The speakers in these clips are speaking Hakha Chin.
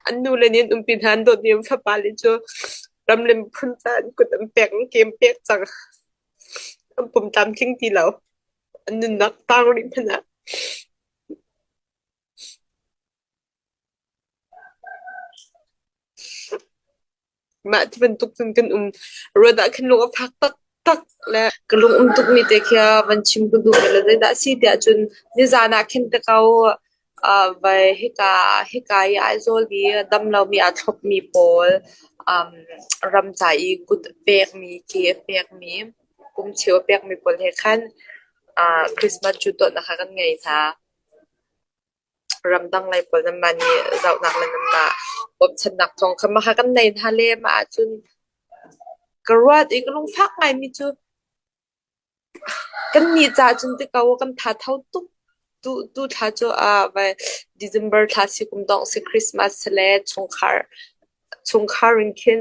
An nule nih an umpi hna an dawt mi an fapa le cu ram le miphun caah an kut an pek an ke an pek cang. An pum tlamtling ti lo. An nunnak taang rih hmanh ah. Mah ti bantuk cun kan um. Ruat ah khin lung a fak taktak le ka lung um tukmi te khi van chim ka duh bal lo. Zeidah a si tiah cun nizan ah khin ka kau ah vai hika hika i Aizawl i damlomi aa thlopmi pawl um ramca i kut a pekmi, ke a pekmi, kum cheu a pekmi pawl he khan ah Christmas cu dawtnak kha kan ngei hna. ramdang lei pawl nan mah nih zohnak le nan mah bawmhchannak thawng kha mahha kan nei hna le mah ahcun ka ruat i ka lungfak ngaimi cu kan nih caah cun ti ko kan thatho tuk tu tu thla cu ah vai December thla si kum dong si Christmas si le chungkhar chungkhar in khin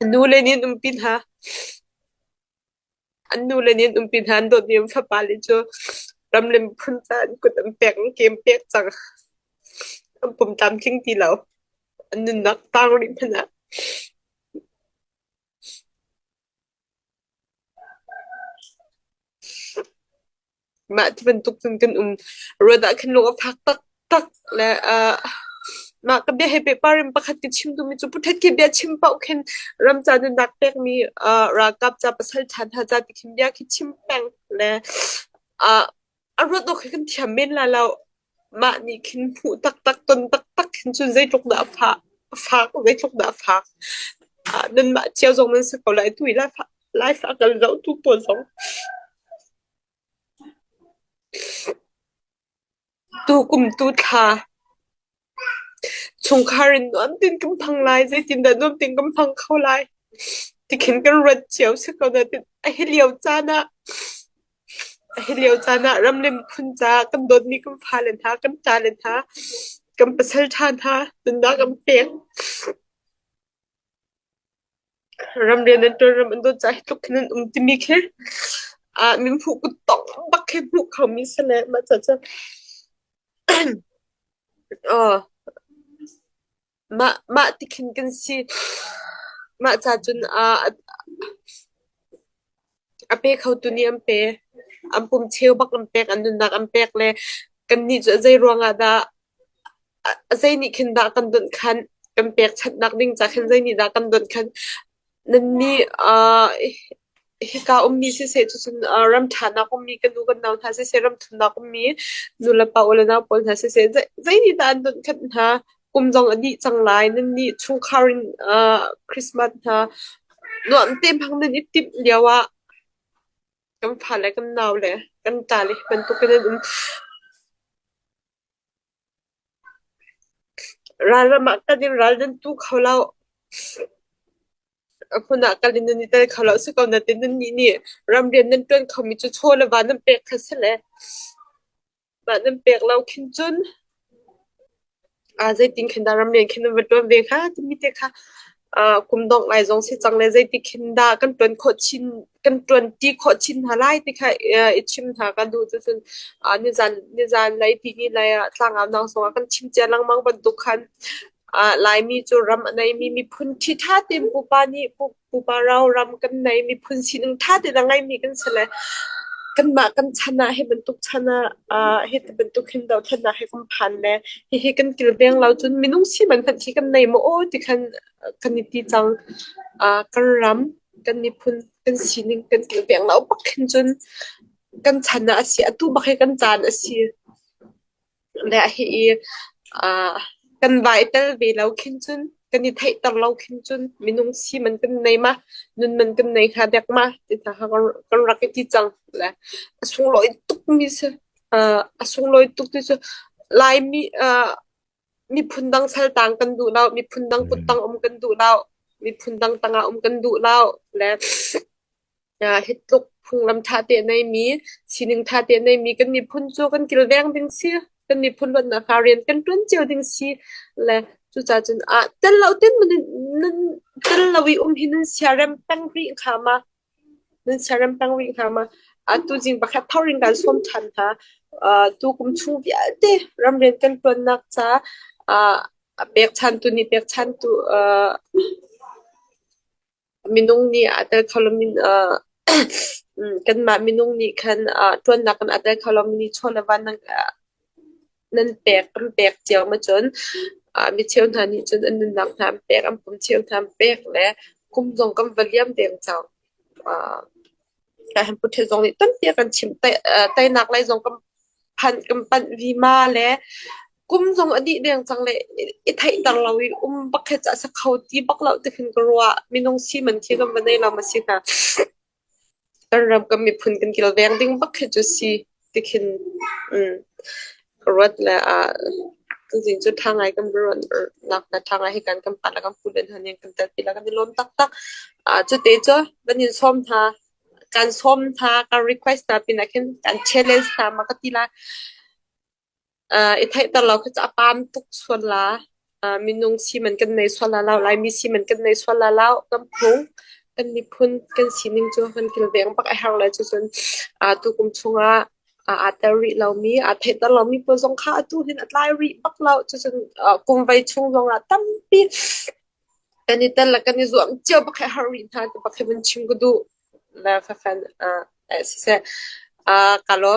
An nule nih an umpi hna. An nule nih an umpi hna. An dawt mi an fapale cu ram le miphun caah an kut an pek, an ke an pek cang. An pumtlamtling ti lo. An nunnak tang rih hmanh ah. Mah ti bantuk cun kan um. Ruat ah khin lung a fak taktak le ah mah ka bia he pehpar in pakhat ka chim duhmi cu puthet ke bia chim paoh khin ramca nunnak pekmi ah ralkap ca pasal ṭhanha ca ti khin bia khi chim peng le ah a ruat awk hi kan thiam men la lo. Mah nih khin hmuh taktak, ton taktak khin cun zeitluk dah a fah, a fak, zeitluk dah a fak. Ah nanmah cio zong nan si ko lai. Tu i lai fa, lai fa kan zoh tu pawl zong. Tukum tu thla chungkhar in nuam tein kan hmang lai. Zeitindah nuam tein kan hmang kho lai? Tikhin kan ruat cio si ko na. A hi lio caan ah, a hi lio caan ah ram le miphun caah kan dawtmi kan fale hna, kan ṭale hna, kan pasal ṭha hna, nunnak an pek. Ramrian an tuan, ram an tuan caah hi tluk khin an um timi khi ah minhmuh kuttongh bak khi hmuh kho mi si le mah caah cun aw mah mah ti khin kan si. Mah ca cun ah a pe khotu nih an pe. An pum cheu bak an pek, an nunnak an pek le kannih cu a zei ruangah dah Zei nih khin dah kan donh khan, kan pekchanhnak ding ca khin zei nih dah kan donh khan, nannih aa hika ummi siseh cucun aa ramṭhanak ummi ka nu kan nau hna siseh, ramthumnak ummi nu le pa, u le nau pawl hna siseh zei zei nih dah an donh khenh hna? Kum zong a dih cang lai. Nannih chungkhar in aa Christmas hna nuam tein hmang nan i timh lio ah kan fa le kan nau le kan ṭa le hi bantuk in an um. Ralram ah kan in ral nan tu kho loh. A hmun ah kal in nan i tel kho loh si ko natin nannih nih ramrian nan ṭuan khomi cu chaw le va nan pek kha si le mah nan pek lo khin cun aa zeitin khin dah ramrian khin nan va ṭuan ve hnga timi te kha kum dongh lai zong si cang le zeitik hin dah kan ṭuan khawh chin kan ṭuanṭi khawh chin hna lai ti kha i chim hna ka duh cucun nizan nizan lei ti ni lei ah tlangaunang zongah kan chim cia lengmang bantuk khan Laimi cu ram a neimi miphun ṭhi ṭha tein pupa nih pupa rau ram kan nei miphun sining ṭha tein a ngeimi kan si le kanmah kan chan ah hi bantuk chan ah Hi ti bantuk hin dohthlennak hi kan phan le hihi kan kilveng lo cun minung siman hmanh khi kan nei maw aw ti khan kan i ti cang. Kan ram, kan miphun, kan sining kan kilveng lo bak hin cun kan chan ah a si. Atu bak hi kan caan a si. Le hihi kan vai tel ve lo khin cun kan i theihter lo khin cun minung siman kan nei ma nunman kan nei hnga dek ma ti hna kan rak i ti cang le a sunglawi tukmi si uh, a sunglawi tuk ti cu laimi uh, miphun dang saltang kan duh lo miphun dang kuttang um kan duh lo miphun dang tangah um kan duh lo le Hi tluk phunglam ṭha te a neimi, sining ṭha te a neimi kan miphun cu kan kilveng ding si, kan miphun luatnak hla rian kan ṭuan cio ding si. Le cucaah cun aa tel lo tin maw nan, nan tel lo i um hi nan siarem peng rih hnga ma? Nan siarem peng rih hnga ma? A tuzing pakhat thawng in kan sawm ṭhan hna. Uh, tu kum chung vialte ramrian kan ṭuannak ca uh, a pekchantu nih pekchantu uh, Minung nih a tel kho lomi uh kanmah minung nih khan uh ṭuannak kan a tel kho lomi chaw le van nan uh nan pek kan pek cio ma cun uh mi cheu hna nih cun an nunnak hna an pek an pum cheu hna an pek le kum zong kan va liam deng cang. Uh Kaihan Pu Htet Zong nih tampi a kan chimh. Teinak lei zong kan phanh, kan panh vima le kum zong a dih deng cang le i theihter lo in um bak he cah a sa kho ti bak lo ti khin ka ruah. Minung siman khi kan va nei lam a si hna. Kan ram, kan miphun kan kilveng ding bak khi cu si. tikhin um ka ruat le ah tuzing cu tha ngai kan ruat nak le tha ngai hi kan kan pa le kan pu le hna nih kan tel pi la kan i lawm taktak uh, cu te cu kan in sawm tha kan sawm tha kan request ta pin ah khin kan challenge ta ma ka ti lai I theihter lo khi cu a pam tuk sual la. Minung siman kan nei sual la lo. Laimi siman kan nei sual la lo. Kan phung, kan miphun kan sining cu kan kilveng bak a herh le cucun tukum chungah aa tel rih lomi, aa theihter lomi pawl zong kha atu hin a tlai rih bak lo. Cucun kum vai chung zongah tampi kan i tel le kan i zuam cio bak a herh rih hna ti bak hi vun chim ka duh le fafen siseh. Ka lawm.